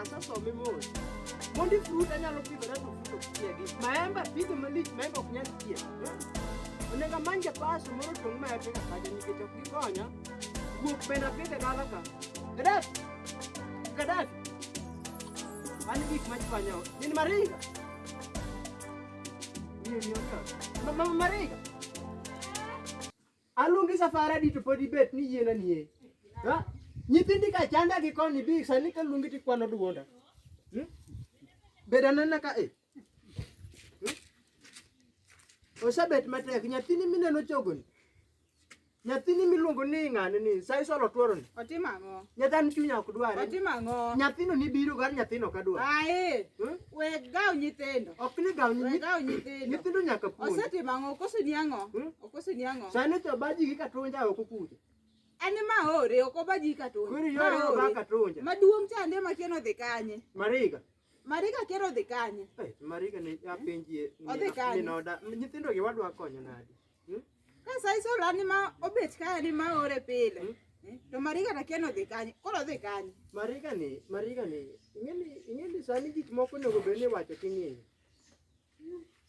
Asasome mos. Mondi fruit anyalo pidho na fruit ok chiegi. Maembe apidho malich, maembe ok nyal chiek. Onego amany japaso moro tong' maembe ka kaja nikech ok gikonya. Guok bende apidho e dala ka. Gadaf! Gadaf! An gik ma chwanya ot. Min Mariga! Min Mariga! Mama Mariga! Aluongi safar adi to pod ibet ni yiena nie. Ha? Nyithindi ka chanda gi koni bi sani ka luongi ti kwano duonda. Hmm? Beda nana ka e. Osebet matek nyathini mineno chogoni. Nyathini miluongo ni ng'ani ni sai solo tuoroni. Otimo ang'o? Nyathani chunya ok dware. Otimo ang'o? Nyathino ni biro gar nyathino ka dwar. Ae, Hmm? we gaw nyithindo. Ok ni gaw We nyi- gaw nyithindo. nyithindo nyaka puonj. Osetimo ang'o? Koso ni ang'o? Hmm? Koso ni ang'o? Sani to baji gi katonja oko kucha. En ma ore oko baji gi katonja. Kuri yore oko ba katonja. Maduong' chande ma kieno dhi kanye. Mariga. Mariga kieno dhi kanye. Eh, Mariga ni apenjie. Odhi kanye. Minoda. Nyithindo gi wadwa konyo nadi. Hmm? Ka sai so lani ma obet kaya ni ma ore pile. Hmm? Eh, to Mariga ta kieno dhi kanye. Koro dhi kanye. Mariga ni, Mariga ni. Ingeni, ingeni sani gik moko nego bende wacho king'eyo.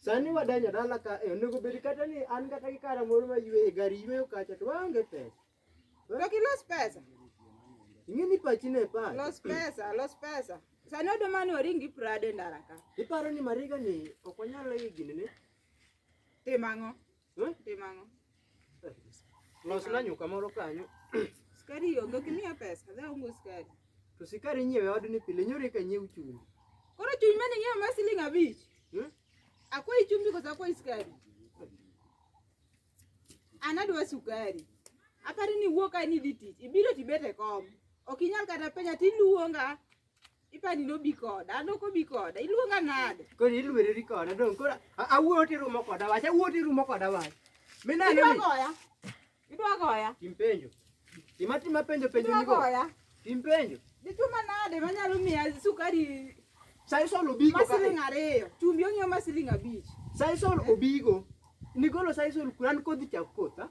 Sani wadonjo dala ka e onego bed kata ni an kata gi kara moro ma ywe e gari yweyo kacha to waonge pesa. To kilos pesa. Ing'e ni pachi ne pa. Los pesa, los pesa. Sani odo mani oringi prade ndara ka. Iparo ni mariga ni ok onyal higni ne? Tim ang'o? Eh? Timo ang'o? Losna nyuka moro kanyo. Skari onge ok imiya pesa, dhi aongo skari. To sikari nyiewe odni pile nyori ka nyiew chumbi. Koro chumbi mane nyiewe ma siling abich. Hmm? Akwai chumbi kosa akwai skari. An adwa sukari. Aparo ni wuok ka ni dhi tich. Ibiro tibet e kom. Ok inyal kata penya tiluonga Ipani nobi koda, an ok obi koda. Iluonga nade? Koro ilwereri koda dong. Koro awuo tirumo koda wach, awuo tirumo koda wach. Minane ni. Idwa goya. Idwa goya. Tim penjo. Tim atima penjo penjo nigo. Idwa goya. Tim penjo. Dichuma nade manyalo miya sukari Sai solo bigo. Masiling ariyo. Chumbi ong'iew masiling abich. Sai solo obigo. Nigolo sai solo kuran kodhi chak kotha.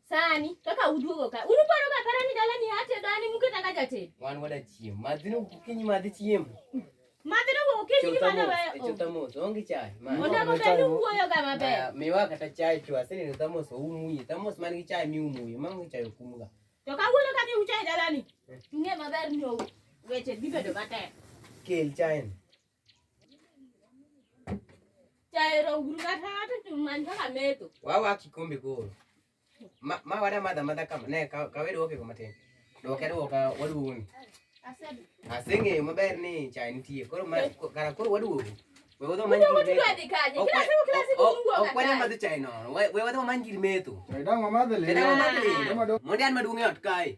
Sani kaka uduogo ka. Unu paro ka para ni dala ni hate dani muke tanga jate. Wan wada chiem. Madhino kinyi madhi chiem. Madhino go kinyi ni mana we. Chota mos onge chai. Ona go bedu wuoyo ga maber. Miwa kata chai tu asini ni tamos umuye. Tamos man gi chai mi umuye. Mam gi chai kumga. To ka wuono ka mi uchai dala ni. Tunge maber ni weche bibedo matek. Kel chai. wawa kikombe koro ma wada madha madha kama ne kawedo woke kama tin doke doka waduoni aseng'eyo maber ni chai nitie koro kara koro waduogo okwanyamadhi chai nono we wadhi wamany gir metho mondi an maduong' e ot kae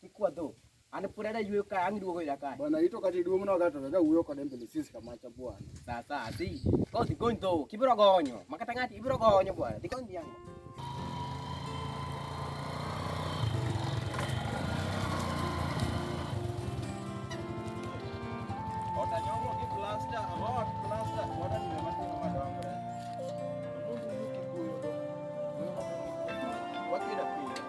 Kikwa dho. An pod ada yweyo ka ang' duogo ira ka. Bwana ito kati duong' no gato ga wuyo kode mbele sis kama cha bwana. Sasa asi. Ko dhi gony dho. Kibiro gonyo. Makata ng'ati ibiro gonyo bwana. Dhi gony dhiang'. Otanyongo ki plasta, amot plasta, wada ni mati madongo. Mungu yuki kuyo. Wakira pia.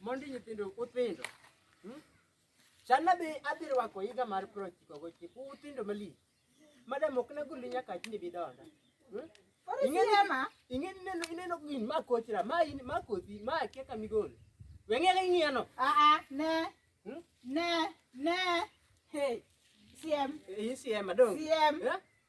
Mondi nyithindo uthindo. Hmm? Chana be adhi rwako higa mar piero ochiko gochiko uthindo malich. Madam ok nagoli nyaka achni bidonda. Hmm? Ing'eni ing'eni neno ineno gin ma kochra ma in ma kothi ma akia ka migol. Weng'e ka ing'iano. Ah ah ne. Hmm? Ne ne. Hey. CM. Eh, CM adong. CM. Yeah?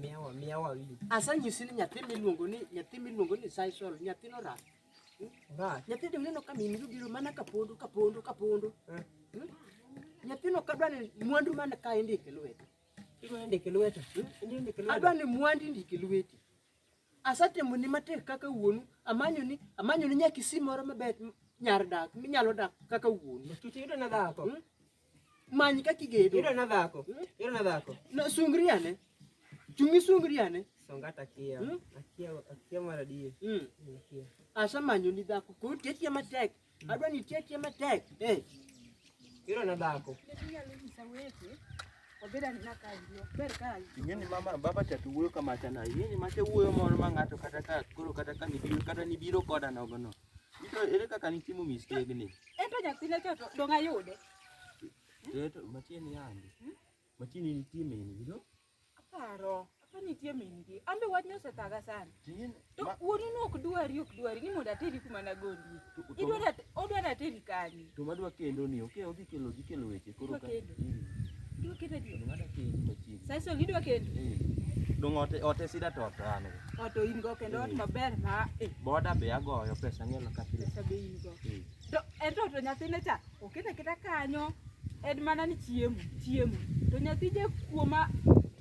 Miyawa, miyawa wi. Asanyisi ni nyathi miluongo ni nyathi miluongo ni Saisol, nyathino orak. Orak. Nyathi de uneno ka min biro mana ka pondo ka pondo ka pondo. Eh. Hmm? Nyathino kadwa ni mwandu man ka indike lwete. Idwa ndike lwete. Hmm? Adwa ni mwandu indike lwete. Asatemo ni matek kaka wuonu, amanyo ni amanyo ni nyaka isi moro mabet nyar dak minyalo dak kaka wuonu. Tuti yudo na dhako. Hmm? Many kaka igedo. Yudo na dhako. Hmm? Yudo na dhako. No sungri ane. Chungi sungri ane. Songa takia. Hmm? Akia akia mara die. Mm. Akia. Asa manyo ni dhako. Ko tetia matek. Hmm. Adwa ni tetia matek. Eh. Yudo na dhako. Tetia leo ni sawete. Ingeni mama baba tatu wuoyo kama chana. Ingeni mache wuoyo moro ma ng'ato kata ka koro kata ka nibiro kata nibiro koda nogo no. Ito ere kaka nitimo mistegni? Ento nyathina cha to dong' ayude. Ito matieni yandi. Hmm? Matieni nitie meni, you know? Aparo. Apa nitie mingi. An be wachni osethaga sana. To wuonu ne ok dwari ok dwari ni mondo ateri kuma nagondie. Idwara odwara ateri kanye? to madwa kendo ni ok odhi kelo dhi kelo weche koro ka dwa kendo dwa kendo madwa kendo machiegni sasa gidwa kendo dong ote ote sida to to an oto in go kendo ot maber ma boda be agoyo pesa ngelo ka pile pesa be in go to ento to nyathine cha okete kita kanyo en mana ni chiemo chiemo to nyathi je kuoma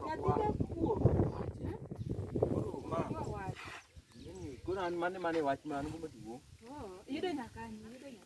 nyathi je kuoma koro an mane mane wach man go maduong' oh, yudo nyakanyo yudo nyakanyo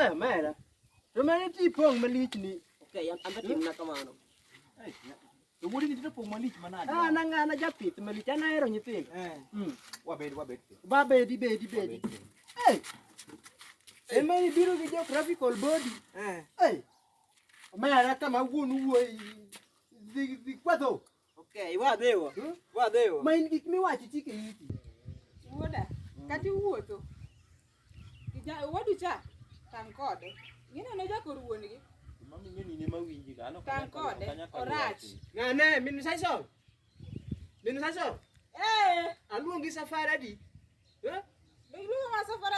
Eh, mera. To mera ti pong' malich ni. Okay, an be timna kamano. Eh, to wuodi ni to pong' malich manade? Ah, na ngana japith malich, an ahero nyithindo. Eh. Mm. Wabed wabed. Wabed bed bed. Eh. Ema ni biro gi geographical body. Eh. Eh. Mera kama wuon wuoi. Dhi dhi kwadho. Okay, wa dewa. Hmm? Wa dewa. Ma in gik miwacho chike iti. Wuoda, kata iwuotho. Kija wadu cha tang kode. Ngina no jakor wuongi. Mami ngeni ne mawinji ga ano tang kode. Orach. Na ne minu saiso. Minu saiso. Eh, aluongi safari adi. Eh?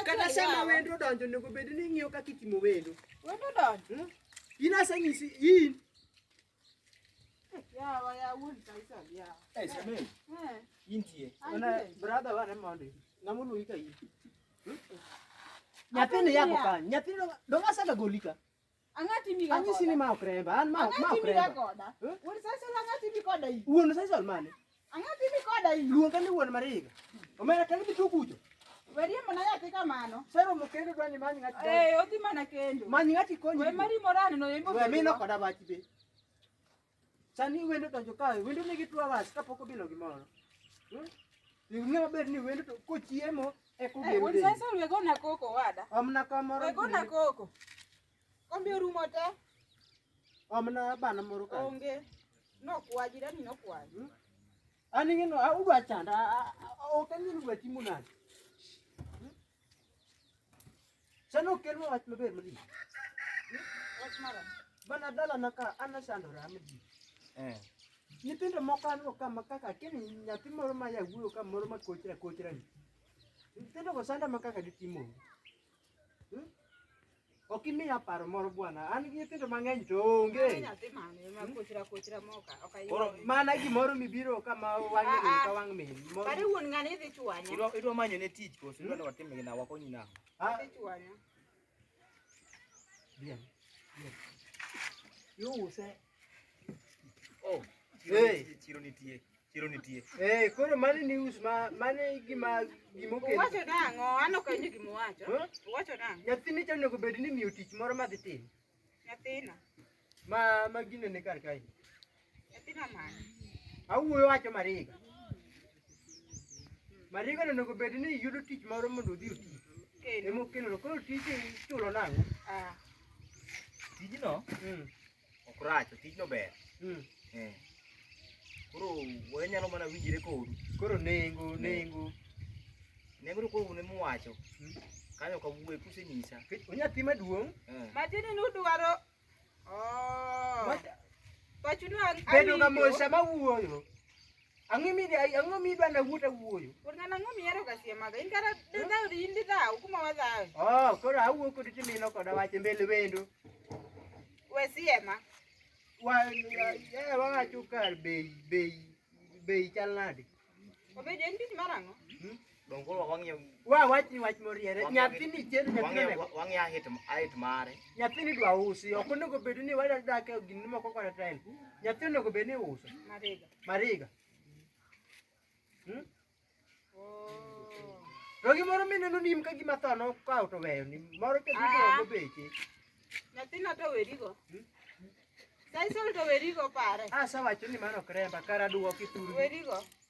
Kata sama wendo donjo nego bed ni ng'iyo kaka itimo wendo. Wendo donjo. Hmm? In aseng'isi in nyathini yako ka nyathini donga saka golika anyisi ni ma okremba an ma okremba wuon sasa olmane Ang'o timi koda luonga ni wuon Mariga? Omera kendo bitu kucho. Werie mana yathi kamano. Sero mo kendo dwani many ng'ati. Eh, odhi mana kendo. Many ng'ati konyi. Wewe mari morani no yembo. Wewe mino koda bachi be. Sani wendo donjo kae, wendo nigi two hours kapok obilo gimoro. Hmm? Ing'e maber ni wendo to kochiemo e kogero. Eh, wendo sasa wegona koko wada. Omna kamoro. Wegona koko. Kombe orumo te. Omna bana moro ka. Onge. Nokwa jirani nokwa. Hmm? An ing'eno udwa chanda ok ang'eyo udwa timo nade. Hmm? Sani okelwa wach maber malich. Hmm? Wach mara. Bana dalana ka an asandora malich. Eh. Nyithindo moko aneno ka ma kaka kini nyathi moro ma yawuoyo ka moro ma kochra kochra ni. Nyithindo go sanda ma kaka gitimo. Hmm? Ok imiya paro moro bwana. An gi nyithindo mang'eny to onge. Koro mana gimoro mibiro kama wang'e ah, ah. ka wang' min. Kare wuon ng'ani idhi chwanya. Idwa idwa manyo ne tich koso idwa hmm? watim gina wakonyi na. Ah. Idhi chwanya. Bien. Bien. Yo use Oh, chiro nitie. Chiro nitie. Eh, koro mani news ma mani gima gima okel. Wacho dango, ano kanyo gima wacho. Wacho dango. Nyathini chano onego bed ni miyo tich moro ma dhi timo. Nyathina. Ma ma gine ne kar kae. Nyathina mani. Awuoyo wacho mariga. Mariga onego bed ni yudo tich moro mondo odhi oti. Kendo. Emo kendo koro tich chulo nango. Ah. Tijino? Mm. ok rach to tijno ber Mm. Eh. koro wanyalo mana winjire kodu Koro nengo nengo nengo to koro un ema uwacho Mm. kanyo ok awuoye kusenyisa Kech- onyathi maduong' Eh. Matiende ni udwaro oh. Wacha- Pachu dwa bedo ga mos sama wuoyo. Ang'o mi dai, ang'o mi dwa na wuta wuoyo? Kod ng'an ang'o mi ero kasie maga? In kara de dau di indi dau kuma wa dau. Oh, koro awuo kod timino kod awache mbele wendo. We siema. Wa, eh, wa wacho kar bei, bei, bei chal nade? Obedo en tich mar ang'o? Hmm? Donge koro wang'iyo Wa wach ni wach moriere. Wang'e- Nyathini chendo nyathini wang'iyo onego. wang'iyo ahit ahit mare. Nyathini dwa usi. Ok onego bed ni wada dak e gini moko kod time. Nyathi onego bed ni uso. Mariga. Mariga. Hmm? Oh. To gimoro mineno nim ka gima tho nokawo to weyo ni moro ka Ah. gidongo beche. Nyathina to werigo. Hmm? Saisol to werigo pare. Asa wacho ni mano ok remba kara duoki thuru. Werigo.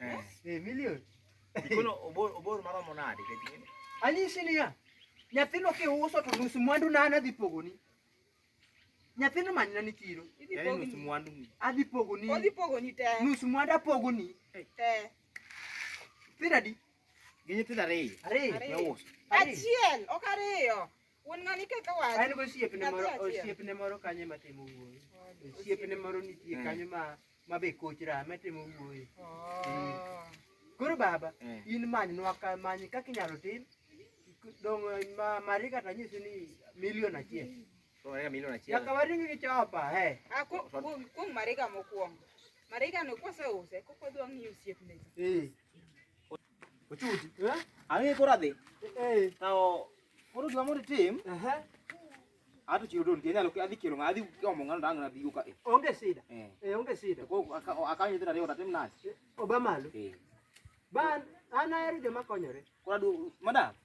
Eh. Eh, milioni. Kono obor obor maromo nade kati? Anyisi niya. Nyathino kiuso to nus mwandu na ana dhi pogoni. Nyathino manyna ni chiro. Idhi Yaani nus pogoni. mwandu ni. Adhi pogoni. Odhi pogoni te. Nus mwandu apogoni. Te. Piradi. Gi nyithindo ariyo. Ariyo. Ariyo. Nauso. Ariyo. Achiel, ok ariyo. Wuon ng'ani kaka wacho. En gosiepne Nyathi moro achiel. osiepne moro kanyo ema timo wuoyo. Osiepne moro nitie kanyo ma ma be koch rame timo wuoyo. Oh. Koro baba Eh. in manynwa ka many kaka inyalo tim dong ma mari kata nyisi ni milion achiel. Tunaenda milioni achiel. Nyaka waring gi chopa he. Ah, ku- kuom kuom mariga mokwongo. Mariga no kose use, koko dwa ng'iyo osiepne. Eh. Ochuti. Eh? Ang'e kora dhi. Eh. Tao koro gima mondo tim. Aha. Ato chiro don tienya loke adhi kelo ngadhi omo ngano dang nadhi uka. Eh. Onge sida. Eh, eh onge sida. Ko akanyo tira riyo tatim nani? Eh, Obama lo. Eh. Ban ana eri joma konyore. Kora du madam.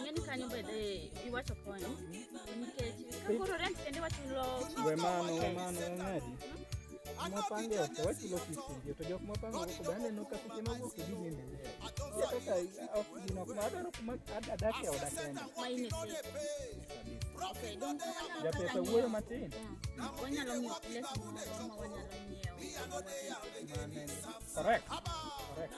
Ng'eni kanyo bende iwacho konyo nikech kakoro rent kende wachulo we mano we mano ng'adi mwapange ok wachulo kisingio to jok mwapango oko bende no kata seche ma wuok gidhi nene kaka ok gino kuma adwaro kuma adak e oda kenda japesa wuoyo matin wanyalo ng'iewo lesson ma wanyalo ng'iewo correct correct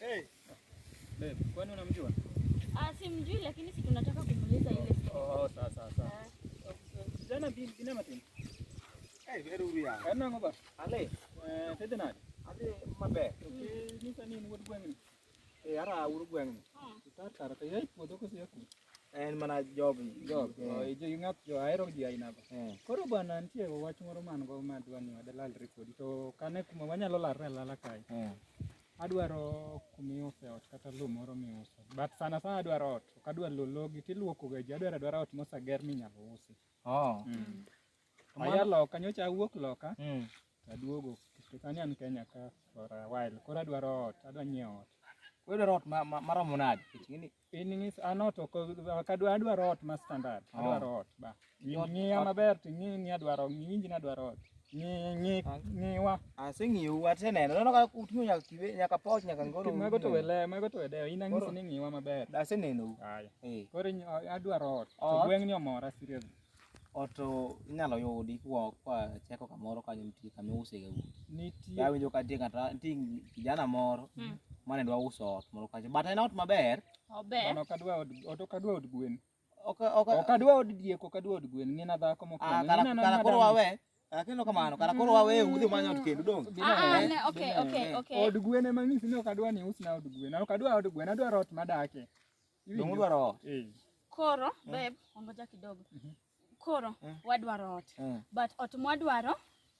Hey. Babe, kwani unamjua? Ah, simjui lakini si tunataka kumuuliza ile. Oh, oh sawa sawa sawa. Jana bin bina matin. Hey, veru bia. Kana ngoba. Ale. Eh, tete nani? Ale mabe. Okay, ni sani ni wadu gwengi. Eh, ara wadu gwengi. Ah. Tar tar ta yai podo ko siya ko. En mana job job. Oh, ijo yungat jo aero ji aina ko. Eh. Koro bana ntie wach moro man go madwani wadalal rekodi to kane kuma wanyalo larre lala kai. Eh. Adwaro kuma iuse ot kata lowo moro miuso. But sana sana adwaro ot. Ok adwar lowo logi to iluokoga ji. Adwaro adwara ot moseger minyalo usi. Oh. Mm. Aya loka, nyocha awuok loka. Mm. Aduogo. Sani an Kenya ka for a while. Koro adwaro ot. Adwa nyiewo ot. Wewe ot maromo nade? In ng'is an ot ok ok adwa adwaro ot ma standard. Oh. Adwaro ot ba. Ot- Ng'iya ot- maber to ing'i ni adwaro ng'inji ni adwaro ot. Ng'i ng'i Ah. ng'iwa. Aseng'iyo aseneno. Neno ka uting'o nyaka kibe nyaka poch nyaka ngoro. Mago to wele mago to wedeyo. In ang'isi Koro- ni ng'iwa maber. Aseneno. Haya. Eh. Koro inyo- adwaro ot. To Ot? gweng'ni omora seriously. Ot inyalo yudi kwa kwa chako kamoro kanyo nitie kama iuse ga udi. Nitie. Awinjo ka nitie kata nitie kijana moro Mm. mane dwa uso ot moro kanyo. But en ot maber. Ober. Mano ok adwa od ot ok adwa od gwen. Ok ok Ok adwa od diek ok adwa od gwen. Ng'ina dhako ah, mokwongo. kara Ng'ina kara koro madam. wawe. Ah, Kendo kamano kara koro wawe udhi manyo ot kendo dong. Bina Ah, ah, eh, ne, okay, bina okay, eh. okay. Od gwen ema ng'isi ni ok adwa ni usna od gwen. Ok adwa od gwen, adwa ot madake. Dongo dwaro ot. Eh. Koro eh. beb, ongoja kidogo. Mhm. Koro eh. wadwaro ot. But ot mwadwaro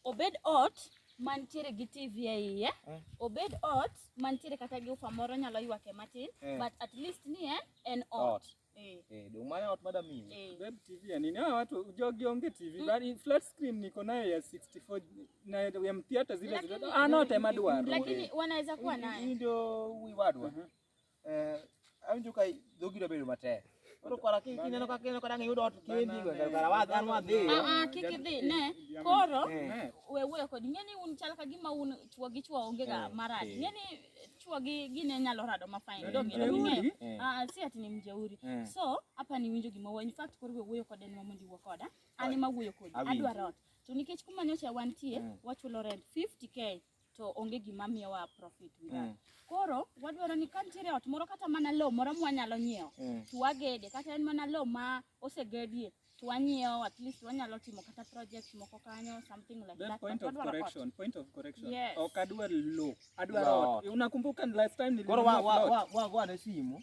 obed ot mantiere gi TV e iye, obed ot mantiere kata gi ufa moro nyalo ywake matin, but at least ni en en ot. Eh. eh, dong maya ot madam mimi. Eh. Beb TV ya nini? Ah, watu jogi onge TV. Mm. Bali flat screen niko nayo ya 64 na ya theater zile zile. Ah, no tema duaro. Lakini wanaweza kuwa nayo. Ndio wiwadwa. Uh -huh. awinjo ka dhogi bedo matek koro kora kineno ka kineno ka dang iyud ot kendi go kara wa dhan wa dhi ah, ah kik idhi ne koro eh. we we kod ngeni un chal ka gima un chwo gi chwo onge ga eh, marad eh. ngeni chwo gi gine nyalo rado ma fine do ngeni ng'eyo ah si ati ni mjeuri so hapa ni winjo gima wa in fact koro we wuoyo kode nwa mondi wuo koda ani ma wuoyo kodi adwaro ot to nikech kuma nyocha wantie wachulo rent 50k to onge gima miyowa profit with that. Mm. Koro wadwaro ni ka nitiere ot moro kata mana lowo moro mwanyalo nyiewo mm. to wagede kata en mana lowo ma osegedie to wanyiewo at least wanyalo timo kata project moko kanyo something like Then that. Point of correction, ot. point of correction. Yes. Ok adwar lowo, adwar ot. Unakumbuka last time nilikuwa. Koro wa wa wa wa wa na simu.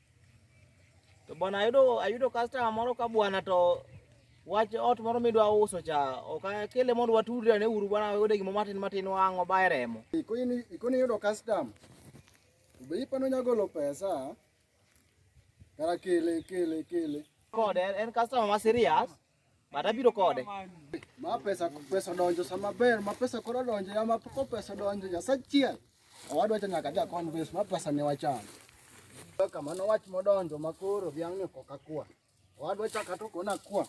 To bwana ayudo ayudo customer moro ka bwana to wach ot moro midwa uso cha ok akele mondo watudre ne uru bwana oyude gimo matin matin wang' obaye remo. Ikoni ikoni yudo customer. Be ipano nyagolo pesa. Kara kele kele kele. Kod en customer ma serious. Mata biro kode. Ma pesa pesa donjo sama ber, ma pesa koro donjo ya ma poko pesa donjo ya sachiel. Owadwa cha nyaka ja convince ma pesa ne wacham. Kaka mano wach modonjo ma koro dhiang' ni koka kwa. Owadwa cha katoko na kwa.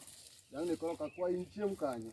Dhiang' ni koro kakwa in chiem kanyo.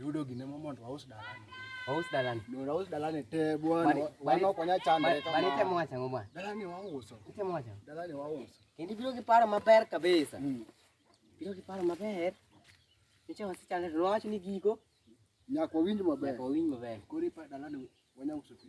Yudo gine mo mondo waus dalani. Waus dalani. Ndio waus dalani te bwana. Bwana konya chande kama. Bali temo acha ngoma. Dalani wauso. Temo acha. Dalani wauso. Kendi biro ki paro maber kabisa. Mm. Biro ki paro maber. Niche wasi chande to wacho ni gigo. Nyako winj maber. Nyako winj maber. Kori pa dalani wanya uso pesa.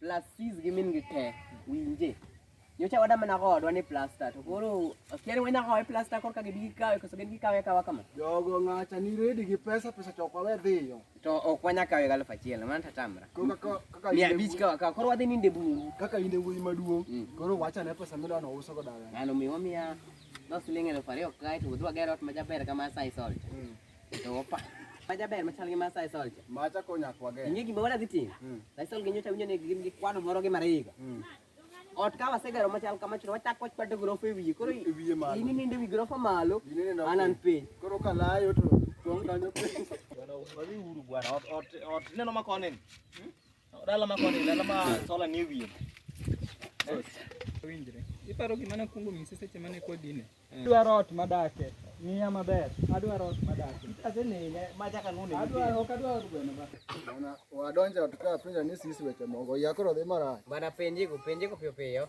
plus fees gi min gi te winje nyocha wada mana kodwa ni plaster to koro akia ni wenda kowe plaster korka gibi gikawe koso gin gikawe kawa kama jogo ng'acha ni redi gi pesa pesa to kwawe dhiyo to ok wanya kawe gi aluf achiel mana tatamra mia abich kawa kawa koro wadhi ninde bungu kaka inde wuoyi maduong' mm. koro wacha ne pesa midwa nouso go dawe ng'ano miwa mia no siling' eluf ariyo kae to udhi wager ot majaber kama sai salt mm. Opa. Maja ber machal gi Masai Soldier. Macha konya kwage. Inge gima wala dhi timo. Hmm. Masai Soldier nyocha winjo ni gin gi kwano moro gi mariga. Hmm. Ot ka wasegero machal kama chiro wachak wach pato grofa e wiye. Koro e wiye malo. Ini ninde wi grofa malo. Anan piny. Koro ka layo to tong kanyo piny. Wadhi uru bwana. Ot ot ot neno makone. Hmm? Dalama kwa nini? Dalama sola ni wiye. Winjre. Iparo gima nakuongo nyisi seche mane kwa gine. Adwaro ot madake. Miya maber. Adwaro ot madake. Asenene ma chaka nune. Adwaro ok adwaro gweno ba. Ona wadonja tuka penja ni sisi weche mongo. Yakoro dhi mara. Bana penji go penji go piyo piyo.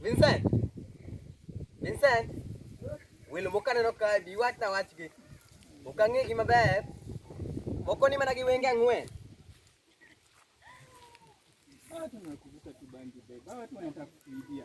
Vincent. Vincent. Welo moko aneno ka bi wach na wachgi. Ok ang'egi maber. Moko ni mana gi wenge ang'wen. Watu wanakuvuta kibangi beba, watu wanataka kuibia.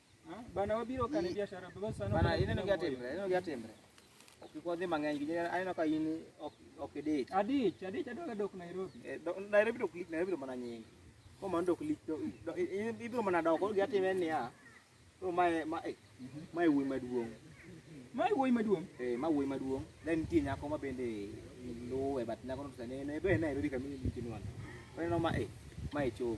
Bana wabiro kane biashara baba sana. Bana ineno gi atimre, ineno gi atimre. Kik wadhi mang'eny gi aneno ka in ok ok idich. Adich, adich adwa dok Nairobi. Eh, Nairobi dok lik Nairobi mana nyingi. Ko mano dok lik to ibiro mana dok gi atime niya. Ko mae ma eh, mae wuoyi maduong'. Mae wuoyi maduong'. Eh, ma wuoyi maduong'. Then nitie nyako ma bende luwe but nyako no sani ne be Nairobi kamili nitie nwana. Waneno ma eh, mae chopo.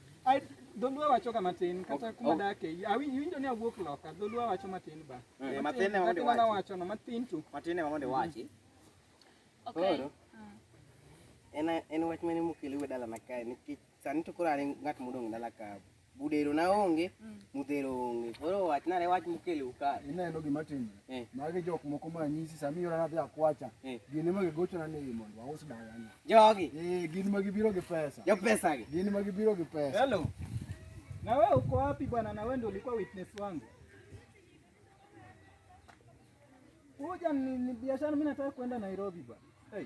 Dholuo wacho kama tin kata kuma dake awinjo ni awuok loka dholuo wacho matin ba eh, matin ema mondo wacho wacho no matin tu matin ema mondo wachi okay koro mm. en en wach mane mokele we dala na kae nikech sani to koro are ngat modong dala ka budero na onge mm. mudhero onge koro wach nare wach mokele uka ineno gima tim eh. magi jok moko ma nyisi sami yora na dhi akwacha eh. gine magi gocho na ni mondo aus dala na Jogi. Eh, gin ma gibiro gi pesa. Jo pesa gi. Gin ma gibiro gi pesa. Hello. Na wewe uko wapi bwana? Na wewe ndio ulikuwa witness wangu. Kuja ni, ni biashara mimi nataka kwenda Nairobi bwana. Hey.